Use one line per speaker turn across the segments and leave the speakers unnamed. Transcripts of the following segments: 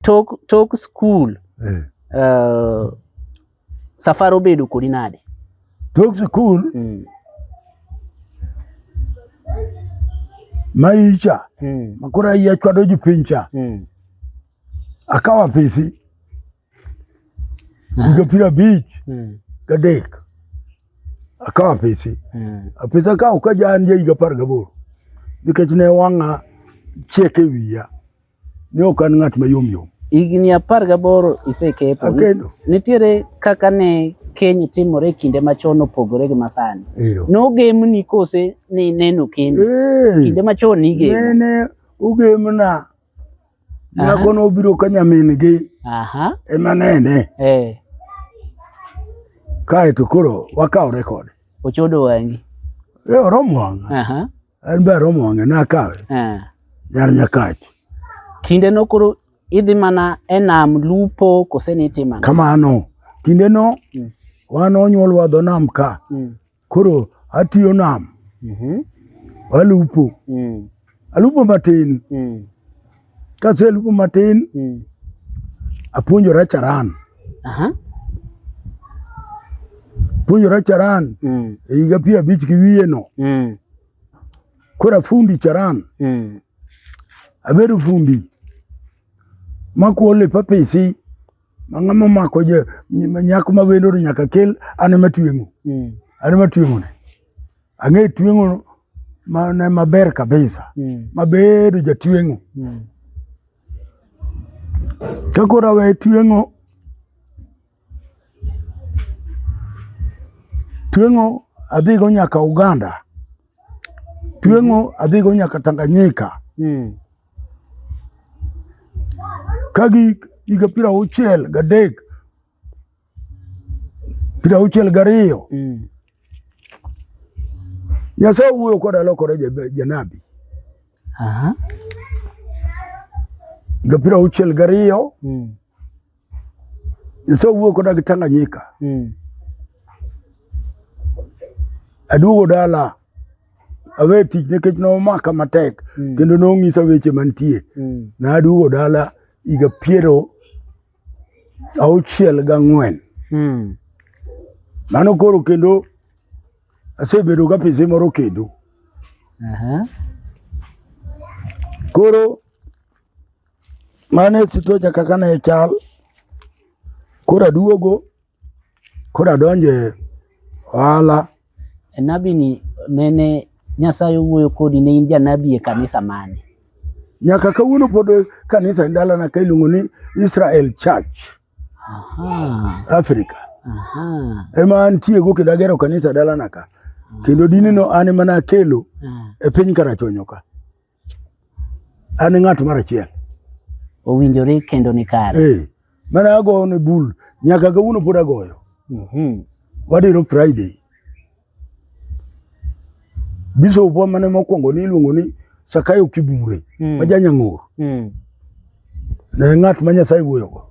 tok tok skul eh. uh, safar obedo kodi nade tok skul
mm. maicha mm. makoro ayie chwado jopiny cha mm. akawo apisi ah. higa piero abich mm. gadek akawo apisi mm. apisi akawo ka ja an ja higa apar gaboro nikech ne wang'a chiek e wiya Ne ok an ng'at mayom yom. Higni apar
gaboro isekepo. Akendo. Nitiere kaka ne keny timore e kinde machon opogore gi masani. Nogemni kose ni neno kendo. Kinde machon nigemo. Nene
ugemna. Nyako nobiro ka nyamin gi. Aha. Ema nene. Eh. Kaeto koro wakaw rekod. Ochodo wangi.
Eh, oromo wanga.
Aha. An be aromo wang'e nakawe. Eh. Nyar nyakachi. Kinde no
koro idhi mana e nam lupo kose ni itimo ang'o? Kamano. Kinde
no Mm. wan onyuolwa dho nam ka. Mm. Koro atiyo nam. Mhm. Alupo. Mm. Alupo matin. Mm. Kaselupo matin mm. apuonjora charan Aha. puonjora charan mm. e higa piero abich gi wiye no mm. koro afundi charan mm. abedo fundi makuo lepa pisi ma ng'ama omako je- nyako ma wendoni nyaka kel an ema tweng'o Mm. an ema tweng'one Ang'e tweng'o mane maber kabisa mm. mabedo jatweng'o mm. ka koro awe tweng'o tweng'o adhigo nyaka Uganda tweng'o mm-hmm. adhigo nyaka Tanganyika mm. ka gi higa piero auchiel gadek piero auchiel gariyo mm. Nyasaye owuoyo koda lokore janabi higa piero auchiel gariyo mm. Nyasaye owuoyo koda gi Tanganyika mm. aduogo dala awe tich nikech nomaka matek mm. kendo nong'isa weche mantie mm. na aduogo dala higa piero auchiel gang'wen hmm. mano koro kendo asebedo ga pise moro kendo uh -huh. koro mane sitocha kaka ne chal koro aduogo Koro adonje ohala. Nabi
ni nene Nyasaye owuoyo kodi ne in janabi e kanisa mane? Nyaka
kawuono pod kanisa e dalana ka iluongo ni Israel Church. Aha. Africa. Aha. Ema antiego kendo agero kanisa e dalana ka. Kendo dini no an ema nakelo ah. e piny Karachuonyo ka. an e ng'at mar achiel owinjore
kendo ni kare hey, eh, mane agoyo ne
bul nyaka kawuono pod agoyo mm -hmm. wadiro friday bishop wa mane mokwongo ni iluongo ni sakayo kibure mm. ma janyang'or mm. Ne ng'at ma Nyasaye wuoyogo.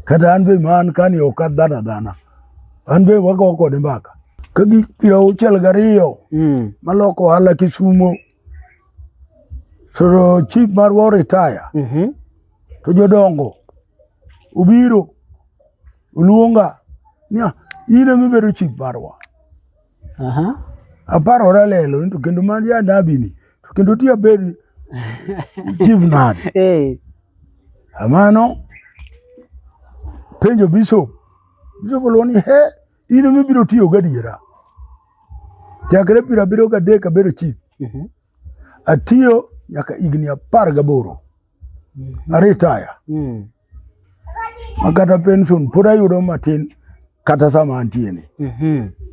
Kata an be ma an kani ok adhana dhana. An be wago kode mbaka. Ka gik piero auchiel gariyo mm. maloko ohala Kisumo. Soro chief marwa oritaya. Mm -hmm. To jodongo obiro oluonga niya in emibedo chief marwa. Aha. Aparo ora lelo ni to kendo man ya ndabi ni. To kendo ti abed chief nade. Eh. Amano penjo bishop. Bishop lo ni he ino mi biro tiyo gadiera. Chakre pira biro gadek abedo chief. Mhm. Atiyo nyaka higni apar gaboro. Mhm. Aritaya. Mm. Makata pension pod ayudo matin kata sama antie ni. Mhm.